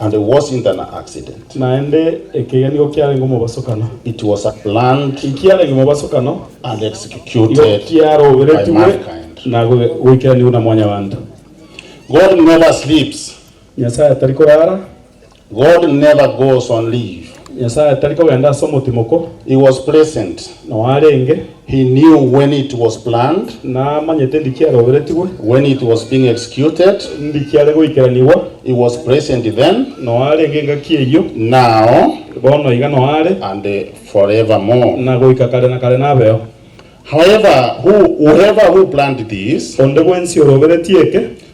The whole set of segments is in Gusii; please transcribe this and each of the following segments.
And there was internal accident. Naende ekiya nigo kiarenge omobasokano. It was a planned. Ki kiarenge omobasokano. And executed. Igo kiaroberetigwe na goikeranigwa na Mwanyabanto. God never sleeps. Nyasae tari korara. God never goes on leave. Nyasae tari kogenda ase omotimoko. He was present. Noarenge. He knew when it was planned. Namanyete ndi kiaroberetigwe. When it was being executed. Ndi kiare goikeranigwa. He was present then. Noo arenge engaki eyio. Now. Bono iga noo are. And forevermore. Na goika kare na kare nabeo. However, who, whoever who planned this. Onde bwensi oroberetie eke.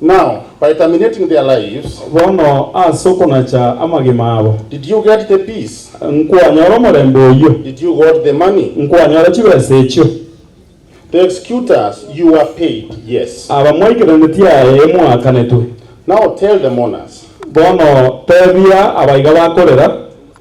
Now, by terminating their lives, Bono ase okonacha amagima abo did you get the peace? nkwanyora omorembe oyio, Did you got the money? nkwanyora chibesa echio. The executors, you were paid, yes. Abamwaikeraneti aye mwaakanetwe. Now tell the mourners. Bono teebia abaiga bakorera.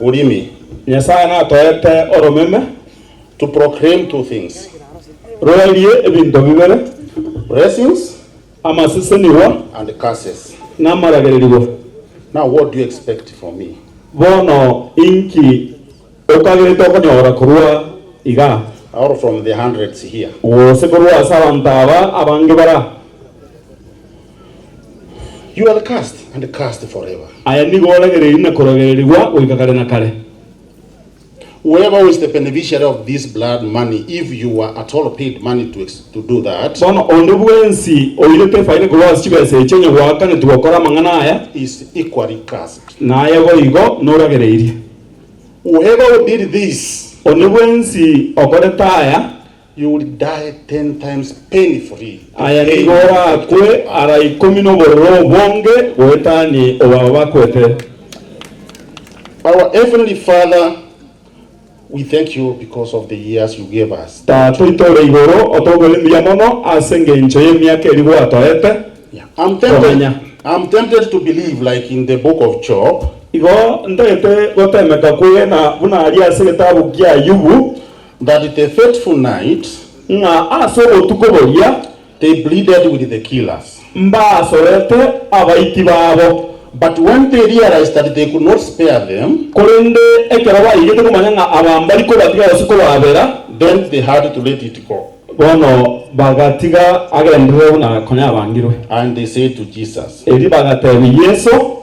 Urimi. Nyasae natoete oromeme, to proclaim two things, roerie ebinto bibere, blessings, amasesenigwa, and curses. namaragererigwa. Now what do you expect from me? Bono inki okagete okonyora korwa igaa? Or from the hundreds here? Gose korwa ase abanto aba abange baraa? You are cursed and cursed forever. Aya nigo oragereirie na korogererigwa goika kare na kare. Whoever who is the beneficiary of this blood money, if you were at all paid money to, ex- to do that, Bono onde bwensi oirete efaida korwa ase chibesa echi onye gwaakanetigwe gokora amang'ana aya, is equally cursed. naye boigo noragereirie. Whoever who did this, Onde bwensi okorete aya, You will die ten times painfully in Aya pain nigo and orakwe afflicted to ara us. ikomi nobororo obonge goetani obaba bakwete. Our Heavenly Father, we thank you because of the years you gave us. Tata oito ore igoro, otogwere mbuya mono ase engencho y'emiaka eria gwatoete Yeah, I'm komenya. tempted, I'm tempted to believe like in the book of Job, Igo ntagete gotemeka kwegena buna aria ase egetabu kia Ayubu, That it a fateful night, ng'a ase obotuko boria they pleaded with the killers. Mbasorete abaiti babo. But when they realized that they could not spare them. Korende ekero baigete komanya ng'a aba mbari kobatiga gose kobabera, then they had to let it go. Bono bagatiga agenderere buna konya abangirwe. And they said to Jesus. Erio bagateebia Yeso,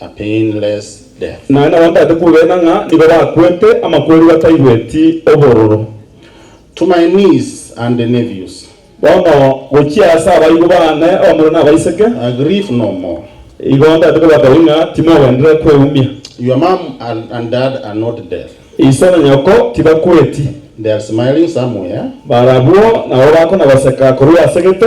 a painless death. Naende abanto baete kugena ng'a nigo bakwete amakweri bataigweti obororo. To my niece and nephews. Bono gochia ase abaibwa baane abamura na abaiseke. I grieve no more. Igo ntaete kobatebi ng'a timogenderera kweumia. Your mum and dad are not dead. Iso na nyoko tibakweti. They are smiling somewhere. Barabwo nabo bakona goseka korwa ase gete.